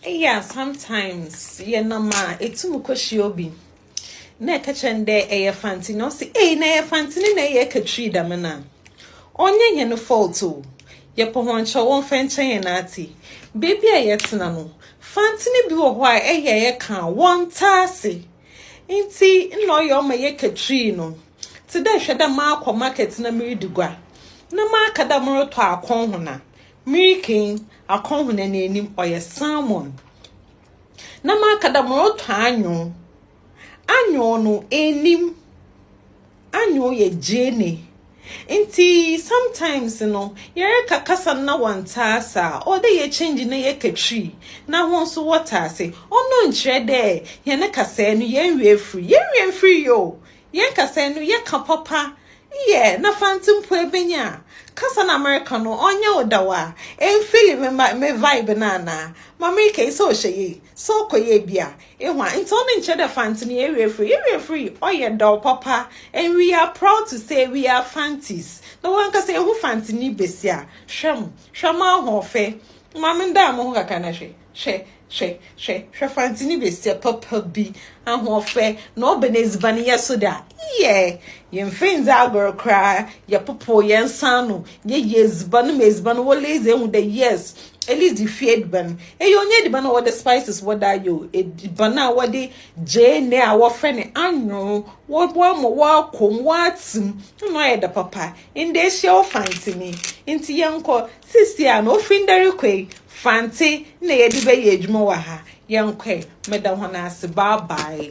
Eyi a sometimes yɛnam a etum kɔhyia obi na ɛka kyerɛ no dɛ ɛyɛ fanti na ɔsi ei na ɛyɛ fanti ne na ɛyɛ ɛkatwiri dɛm no a ɔnyɛ hɛn fault o yɛpɛ hɔn kyɛ wɔmfa nkyɛ hɛn ate beebi a yɛtena no fanti no bi wɔ hɔ a ɛyɛ a yɛka a wɔntaa ase nti nna ɔyɛ ɔma yɛkatwiri no te dɛ hwɛ dɛ maakɔ market na meredi gua na maaka dɛ moretɔ akɔnhona Mirika yi, akɔnhona n'enyim, ɔyɛ salmon. Na maka dɛ morotɔ anyow. Anyow no, ennim. Anyow yɛ gyeene. Ntsi sometimes no, yɛreka kasa no na wɔnntse ase a, ɔwɔ dɛ yɛchange na yɛka Twi na hɔn so wɔtse ase. Ɔno nnkyerɛ dɛ hɛn kasaa no yɛnnwie efir. Yɛnnwie mmfir yi o! Yɛn kasa enu yɛ ka papa yɛ na fanti mpo ebenya kasa na America no ɔnyɛ wo da wa ɛnfili me ma me vibe no anaa ma America yi sɛ ɔhyɛ yei sɛ ɔkɔ yɛ bi a ehu a nti ɔno nkyerɛ dɛ fanti no yɛwie firi yɛwie firi ɔyɛ dɔw papa and we are proud to say we are fantis na wɔn ankasa ehu fanti ni besi a hwɛ mo hwɛ mo ahoɔfɛ ma me ndaa mo ho kakra na hwɛ Hwɛ, hwɛ, hwɛ, hwɛ fantsini besia papa bi, ahoɔfɛ, na ɔba n'edziban yɛ so dɛ a, yɛ, yɛmmfa nndzi agor koraa, yɛpopow hɛn nsa ano, yɛyɛ edziban ma edziban wɔ Lazy ehu dɛ yes, Lazy fie edziban. Eyi ɔnnyɛ edziban a wɔdze spices wɔ do ayɛ o, edziban a wɔdze gyeene a wɔfrɛ no anwew, wɔaboa ma ɔakɔ mu, ɔatse mu, nna ɔayɛ dɛ papa. Ndɛ ehyia wo fantsini. Ntsi yɛnkɔ, Seesei a na ofi ndɛ rekɔ yi, Fantse na yɛdze bɛyɛ edwuma wɔ ha. Yɛnkɔ ɛ. Meda hɔn ase. Bye bye.